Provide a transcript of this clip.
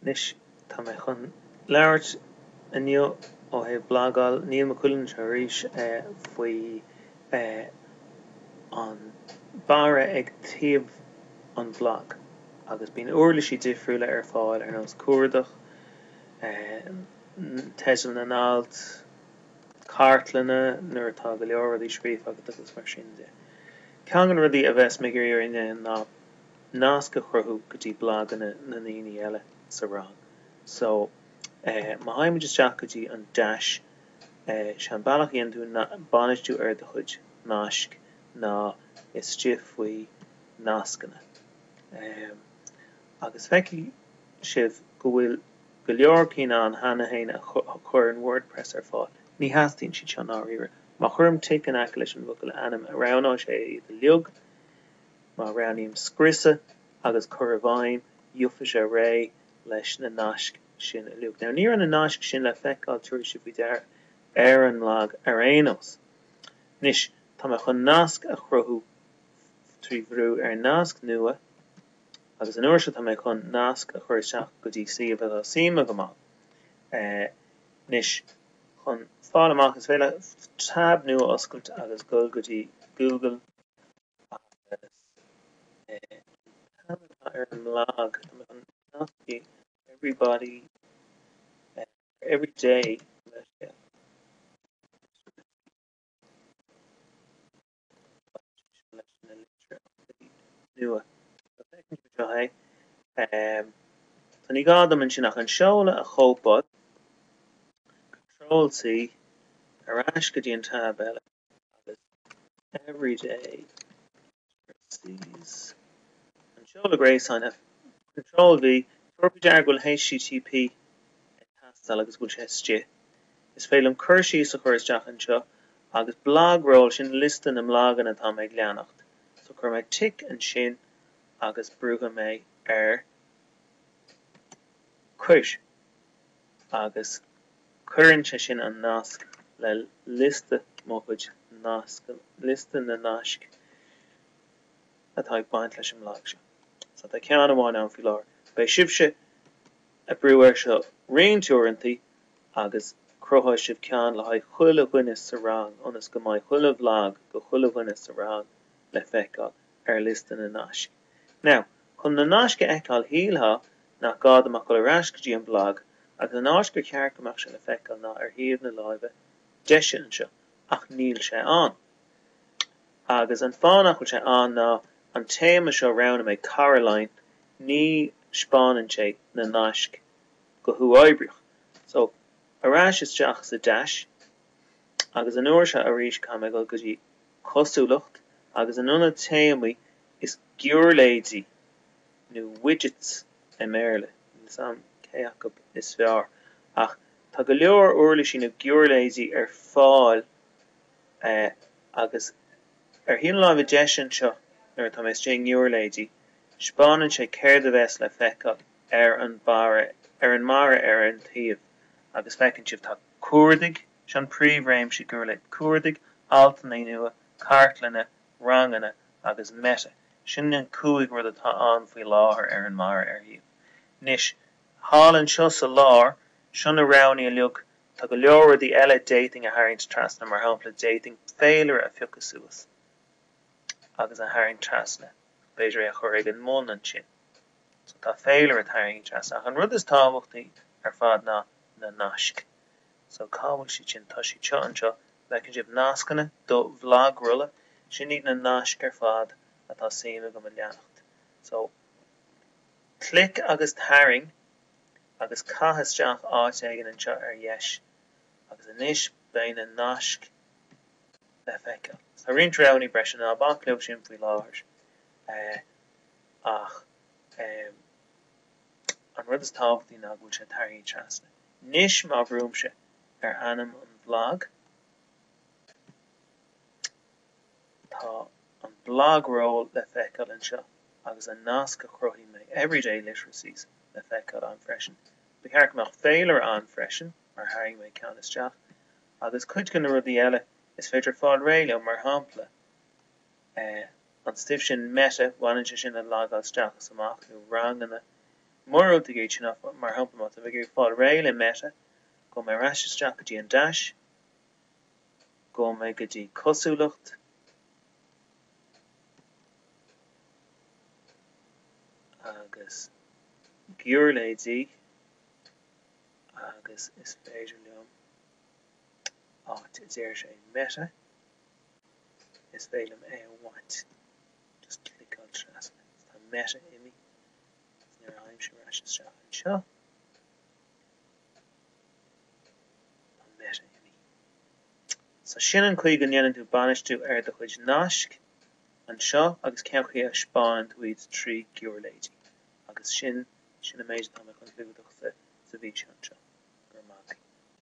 Anois tá mé chun labhairt inniu ó thaobh blagáil. Níl mo chuid cainte arís faoi an barra ag taobh an bhlag agus bíonn úirlisí difriúla ar fáil ar nós cuardach, teidil na n-alt, cartlanna nuair atá go leor rudaí scríofa agat agus mar sin de. Ceann de na rudaí a bheas mé ag iarraidh a dhéanamh ná nasc a chruthú go dtí blaganna na ndaoine eile sa rang. So má théann muid isteach go dtí an Dash, sé an bealach a dhéanann tú bainistiú ar do chuid naisc ná istigh faoi Nascanna. Agus feicfidh sibh go bhfuil go leor cinn ann cheana féin a chuireann Wordpress ar fáil. Ní theastaíonn siad seo, ndáiríre. Má chuirim tic in aice leis an bhfocal ainm, roghnóidh sé iad uilig. Má roghnaím scrios agus cuir i bhfeidhm, gheobhaidh sé réidh leis na naisc sin uilig. Now, ní raibh na naisc sin le feiceáil, tabharfaidh sibh faoi deara, ar an mblag ar aon nós. Anois, tá mé chun nasc a chruthú trí bhrú ar nasc nua agus an uair seo tá mé chun nasc a chur isteach go dtí suíomh atá suim agam ann é. Anois, chun fáil amach, is féidir leat tab nua a oscailt agus dul go dtí Google. agus é an t-ainm atá ar an mblag an nascfaidh everybody or every day leis seo. Tá ní gá dom ansin ach an seoladh a chóipeáil, Control C, ar ais go dtí an tab eile. agus every day Tracey's An seoladh gréasáin Control V Tabharfaidh sibh faoi deara go bhfuil http ag teastáil agus go bhfuil sé istigh. Is féidir liom cur síos a chur isteach anseo agus blogroll sin liosta na mblaganna atá mé ag leanacht. So cuirfidh mé tic ansin agus brúfaidh mé ar Cuir leis. agus cuireann sé sin an nasc le liosta mo chuid na, liosta na naisc atá ag baint leis an mblag seo. So tá ceann amháin ann faoi láthair. Beidh sibhse ag brú air seo roinnt uaireantaí agus cruthóidh sibh ceann le haghaidh chuile dhuine sa rang ionas go mbeidh chuile bhlag do chuile dhuine sa rang le feiceáil ar liosta na naisc. Now, chun na naisc a fheiceáil shílfeá nach gá dom ach dul ar ais go dtí an blag agus an áit gur cheart go mbeadh sé le feiceáil ná ar thaobh na láimhe deise anseo ach níl sé ann. Agus an fáth nach bhfuil sé ann ná an téama seo roghnaigh mé Coraline ní spáineann sé na naisc go huathoibríoch. So, ar ais isteach sa deais agus an uair seo arís caithfidh mé dul go dtí cosúlacht agus in ionad téamaí Is giúirléidí, nó widgets i mBéarla, níl 'fhios a'm cé acu is fearr, ach tá go leor uirlisí nó giúirléidí ar fáil agus ar thaobh na láimhe deise anseo nuair atá mé istigh i ngiúirléidí, speánann sé céard a bheas le feiceáil ar an mbarra, ar an mbarra ar an taobh agus feiceann sibh tá cuardaigh, seo an príomhréimse giúirléid, cuardaigh, altanna nua, cartlanna, ranganna agus meta, sin an cúig rud atá ann faoi láthair ar an mbarra ar thaobh. Anois, thall anseo sa lár, seo na roghanna uilig, tá go leor rudaí eile d'fhéadfainn a tharraingt trasna, mar shampla d'fhéadfainn féilire a phiocadh suas agus a tharraingt trasna, b'fhéidir é a chur ag an mbun ansin. So tá féilire tarraingthe trasna ach an rud is tábhachtaí ar fad ná na naisc. So cá bhfuil siad sin? Tá siad seo anseo. An bhfeiceann sibh nascanna do bhlagrolla? Sin iad na naisc ar fad atá suim agam a leanacht. So clic agus tarraing agus caith isteach áit éigin anseo ar dheis. Agus anois beidh na naisc le feiceáil. Tá roinnt roghanna breise ná bac leo sin faoi láthair ach An rud is tábhachtaí ná go bhfuil sé tarraingthe trasna. Anois má bhrúimse ar ainm an bhlag, tá an blog roll le feiceáil anseo agus an nasc a chruthaigh mé, Everyday Literacies, le feiceáil ann freisin. Ba cheart go mbeadh féilire ann freisin mar tharraing mé ceann isteach. Agus cuid de na rudaí eile, is féidir fáil réidh leo, mar shampla, an stuif sin meta, baineann sé sin le logáil isteach is amach nó ranganna, mura bhfuil tú ag iarraidh iad sin áfach, mar shampla má tá tú ag fáil réidh le meta, gabhfaidh mé ar ais isteach go dtí an deais, gabhfaidh mé go dtí cosúlacht, agus giúirléidí agus is féidir liom áit a deir sé meta. Is féidir liom é a bhaint. Just cliceáil trasna. Tá Meta imí agus nuair a aimsím ar ais isteach anseo, tá Meta imí. So sin an chaoi go ndéanann tú bainistiú ar do chuid naisc anseo agus cén chaoi a thaispeánann tú iad trí ghiuirléidí. Agus sin, sin an méid atá mé chun clúdach sa mhí seo anseo. Go raibh maith agat.